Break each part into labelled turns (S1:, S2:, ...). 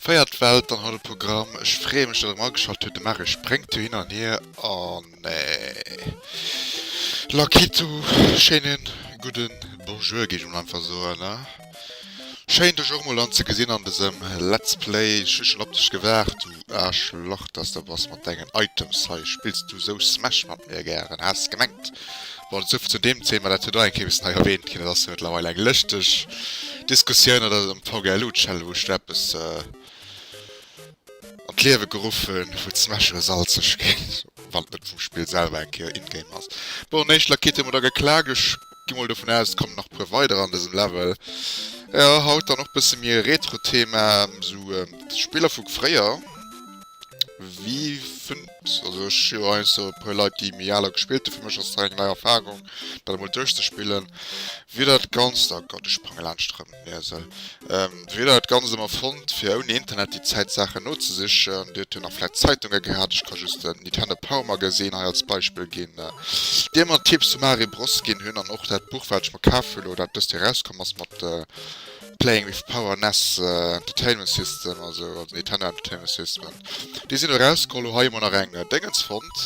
S1: Véiert Welt an haut um Programm. Ech freeë mech, datt Dir erëm ageschalt hutt. De Marius spréngt jo hin an hier an lackiert sou schéine gudde Bonjour, géif ech emol einfach soen. Schéin dech och mol an ze gesin an desem let's play, ech hu schon op dech gewaart du Aarschlach dass de bass mat dengen Items hei, spills du sou smash mat mir gären? Haas gemengt bon et souvill zu deem Thema, dat huet och eng Kéier bessen hei erwähnt gin, et ass jo mettlerweil eng lëschteg Diskussioun dat ass am VGLU Channel wou ech do eppes an d'Liewe geruffen wou d'Smash elo salzeg gin, wann et net vum Spill selwer eng Kéier in-game ass. Bon éischt Laquette hu mer da geklaakt, ech. Gi mol dovun aus et kommen nach puer weider an dësem Level. Jo haut dann och bësse méi e Retro Thema, sou Spiller vu fréier. Wéi fënnt, also ech hu jo heiansdo e puer Leit déi méi al hu gespillt, dofir mécht ass dat eng nei Erfarung dat emol duerchzespillen. Wéi dat Ganzt, oh Gott ech sprange laanscht rëm. Ja, so. Ähm, weder hat ganz immer fond, fir ouni Internet die Zeit Sachen nozesichern, dir hun nach vielleicht Zeitungen gehabt, ich kann just den Nintendo Power Magazin hei als Beispiel gin, äh, dir man Tipps zu Mario Bros gin hun, an och dat Buch wat ich mer kaf hun lo, dat dest Joer rauskom ass mat äh, Playing with Power nes äh, Entertainment System, also, also Nintendo Entertainment System, déi sin erauskom, lo hei hu mer nach eng äh, Dengens fond,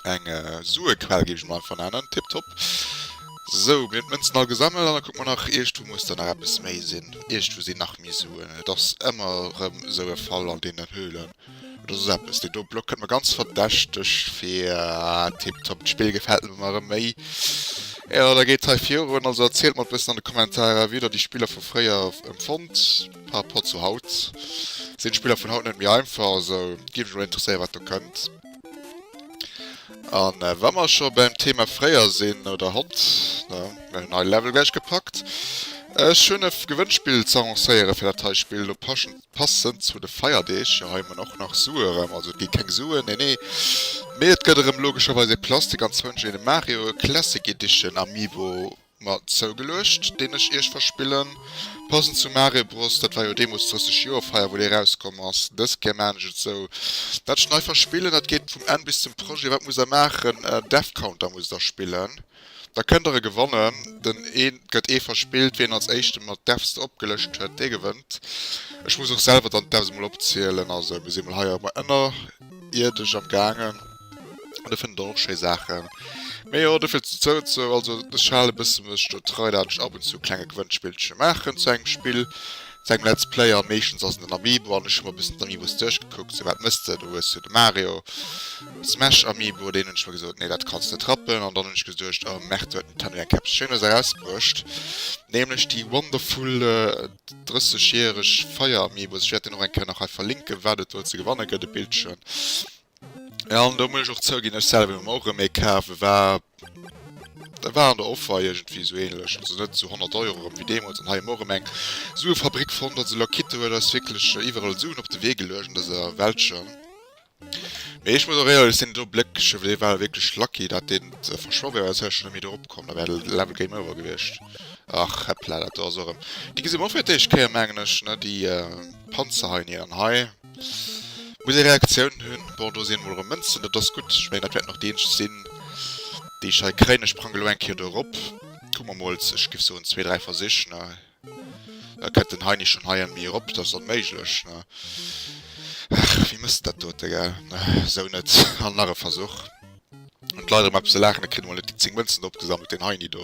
S1: eng äh, Suequell gin ich mer einfach nennen, tiptop. Sou, mir hunn d'Mënzen all gesammelt an da kucke mer nach, iergendwou muss der nach eppes méi sinn. Iergendwou sinn nach méi Suen. Et ass ëmmer erëm esou e Fall an deenen Höhlen. Et ass eppes. Deen do Block kënnt mer ganz verdächteg vir. Ah, tiptop. D'Spill gefält mer ëmmer erëm méi. Jo, da geet hei virun. Also erzielt mer e bëssen an de Kommentarer, wéi der déi Spiller vu fréier empfonnt par rapport zu haut. Sinn d'Spiller vun haut net méi einfach? Also géif mech mol interesséieren, wat do kënnt. An wa mer scho beim Thema fréier sinn, oder haut, ne, mir hunn hei Level gläich gepackt. Ech hunn e Gewënnspill ze annoncéieren fir dat hei Spill elo paschend, passend zu de Feierdeeg. Jo, hei hu mer och nach Sue erëm, also et gi keng Suen, nee nee, mee et gëtt erëm logescherweis e Plastik an zwënsch een e Mario Classic Edition Amiibo. Mat Zougeluecht, deen ech iech verspillen. Passend zu Mare Bros, dat war jo deemools d'drësseg Joerfeier wou dee rauskomm ass. Dës Kéier maan ech et sou, dat ech nei verspillen, dat geet vum Enn bis zum Projet, wat muss der maachen? Death Counter muss der spillen, da kënnt der e gewannen, den et gëtt ee verspillt, wien als éischte mat Deaths opgelëscht huet, dee gewënnt. Ech muss och selwer dann d'Deaths emol opzielen, also mir si mol hei ënnerierdesch am gaangen. An de fënnt och schéi Saachen. Mee jo, do fir ze zou ze. Also ech hal e bësse mech do trei, dat ech ab und zu klenge Gewënnspillche maachen zu engem Spill, zu engem Let's Play. A meeschtens ass et en Amiibo an ech hu mer e bëssen d'Amiibos duerchgekuckt, sou, wat mëss de? Do hues du de Mario Smash Amiibo, deen hunn ech mer gesot, nee, dat kanns de net rappen. An dann hunn ech geduecht, oh Merde, do huet den Tanu eng eppes Schéines erausbruecht, nämlech déi wonderful 30 järeg Feier Amiibos. Ech wäert deen och eng Kéier nach hei verlinken, wat et do ze gewanne gëtt, e Bildchen. An do muss ech och zouginn, ech selwer hunn mer och erëm ee kaf, e war e war an der Offer iergendwéi esou änlech, also net zu 100 Euro erëm wéi deemools an hei hu mer och erëm eng Suefabrik fonnt. Also Lakitte huet eis wierklech iwwerall Suen op de Wee geluecht an dëser Weltcher. Mee ech muss och éierlech sinn, do Bléckche wéi dee war wierklech lucky, datt deen verschwoe wär, well dat wär schonn net méi do eropkomm, da wär de Level Game Over gewiescht. Ach heppla, dat do ass och erëm, déi gesi mer och fir d'éischt Kéier mengen ech, ne déi Panzerhainien. An hei. Muss ee Reaktiounen hunn. Bon, do si emol erëm Mënzen, dat ass gutt. Ech mengen, dat wäert nach déi eenzeg sinn, déi ech hei kréien. Ech prangen elo eng Kéier do erop. Kucke mer mol, ech géif soen, zwee, dräi Versich, ne? Da kënnt den Heini schonn hei an mir erop. Dat ass onméiglech, ne? Ach, wéi mësst dat dote, gell? Esou net. An nach e Versuch. Huet leider emmer eppes ze laachen, et kritt emol net déi 10 Mënzen opgesammelt, deen Heini do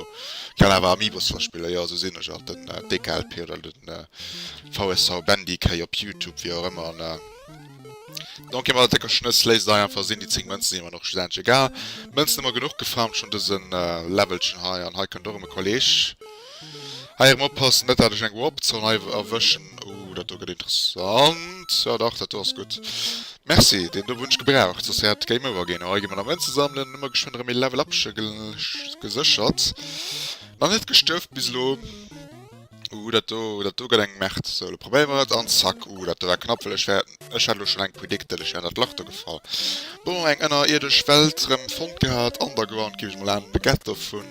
S1: kann awer Amiibos verspillen, jo esou sinn ech alt, den DKLP oder den VSV Bendy Kay op Youtube, wéi och ëmmer an Don Kim ass décker Schnëss, léisst et einfach sinn, déi 10 Mënzen sinn emmer nach schlussendlech egal, Mënzen emmer genuch gefarmt schonn dëse Levelchen hei, an hei kënnt och erëm e Kolleg, hei erëm oppassen net dat ech eng Warp Zone hei erwëschen. Ooh dat do get interessant. Jo dach dat do ass gudd. Merci, deen do wun ech gebraucht soss wärt game over gin. Hei gi mer nach Mënzen sammelen. Hu mer geschwënn erem ee level up gesechert. Nach net gestuerft bis elo. Ooh dat do, dat do get eng Merd. Sou lo probéier mer et an zack. Ooh dat do war knapp well ech wär, ech hat lo schon eng predicted, ech wär an dat Lach do gefall. Bon eng ënnerierdesch Welt rem fonnt gehat. Underground gin ech mol aan. De Ghetto vun.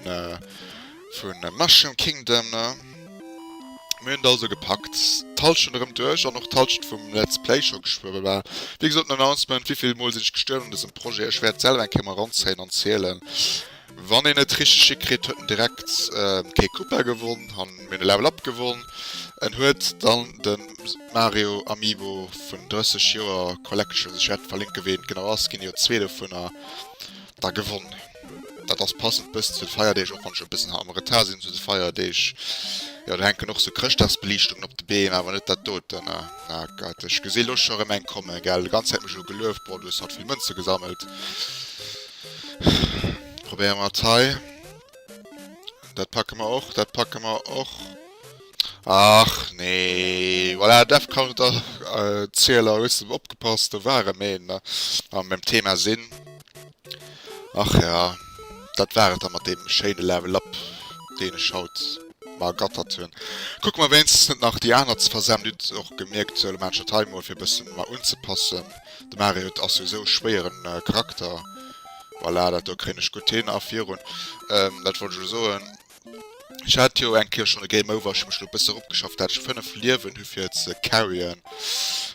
S1: Vun Mushroom Kingdom. Mir hunn et also gepackt, d'Hallschent erëm duerch an och d'Hallschent vum Let's Play scho geschwuewe. Well, wéi gesot, den Announcement, wéivill Mol sinn ech gestuerwen un dësem Projet, ech wäert selwer eng Kéier mol eranzéien an zielen. Wann een et richteg hikritt, huet en direkt kee Koopa gewonn, an mir hunn e Level Up gewonn. En huet dann de Mario Amiibo vun 30 Joer Collection, ech wäert verlinken, wéi en genau ass, ginn jo zwee dovunner. da gewonn. Dat ass passend e bëssen zu de Feierdeeg, och wann ech e bëssen am Retard sinn zu de Feierdeeg. Jo, do hänken och sou Chrëschtdagsbeliichtungen op de Beem, awer net dat doten. Ah, ah Gott, ech gesi lo scho erëm eng kommen, gell? D'ganz Zäit mech elo gelueft, Brrr, du hues haut vill Mënze gesammelt. Probéiere mer et hei. Dat packe mer och, dat packe mer och. Ach nee, voilà, Defcon et ass Zieler, hues de opgepasst, do ware mir een a beim Thema sinn. Ach ja, dat war et da mat deem schéine Level Up, deen ech haut mer ergattert hunn. Kucke mer wéinstens net nach déi aner ze versamen, dir hutt och gemierkt zu Elemental Time mol fir e bësse mer unzepassen. De Mario huet ass souwisou e schwéiere Charakter, voilà, dat do kréien ech gutt hin a virun, dat wollt ech elo soen. Ech hat jo eng Kéier schon e Game Over, ech hu mech lo bësse ropgeschafft dat ech 5 Liewen hu fir ze carryen.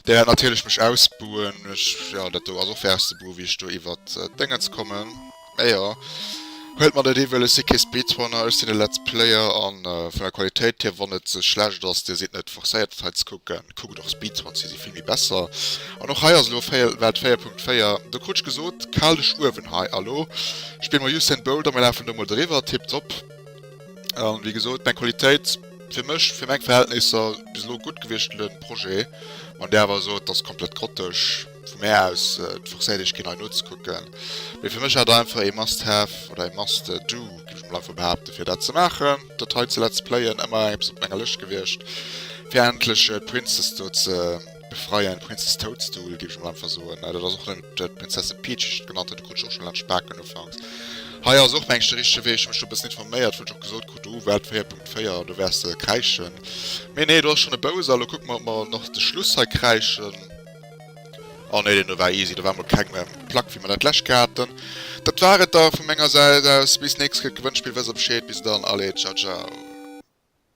S1: Déi wäert natierlech mech ausbuen, ech, jo dat do ass och fir auszebuen wéi ech do iwwer d'Déngens kommen. Mä jo, huelt mat et ewell, ech si kee Speedrunner, ech sinn e Let's Player an vun der Qualitéit hier, wann et ze schlecht ass, dir sidd net forcéiert et hei ze kucken. Kuck et och Speed 20 si vill méi besser an och hei ass elo véier Welt 4.4 do krut ech gesot kal de Schuewen hei a lo spille mer Usain Bolt a mer lafen do mol driwwer tiptop a wéi gesot meng Qualitéit fir mech fir meng Verhältnisser bis elo gutt gewiescht den Projet an där awer esou et ass komplett grottesch. Vu mär aus et forcéiert iech keen hei nozekucken, mee fir mech awer einfach ee must have oder ee must do géif ech mol einfach behaapten fir dat ze maachen, dat hei ze let's playen, ëmmer eppes op menger Lëscht gewiescht fir endlech d'Princess do ze befreien, d'Princess Toadstool géif ech mol einfach soen, dat ass och net d'Prinzessin Peach wéi ech et genannt hunn, do krut ech och schonn laang d'Spaken ufanks. Hei ass och mengen ech de richtege Wee, ech hu mech do e bëssen informéiert wou ech och gesot krut, oh Welt 4.4 do wäers de kräischen, mee nee do ass schonn e Bowser, lo kucke mer ob mer och nach de Schluss hei kräischen. Oh nee, deen do war easy, do war mol keng Plack wéi mer dat lech haten. Dat war et da vu menger Säit aus, bis nächst Kéier d'Gewënnspill wëss op Scheed, bis dann, allez, ciao ciao.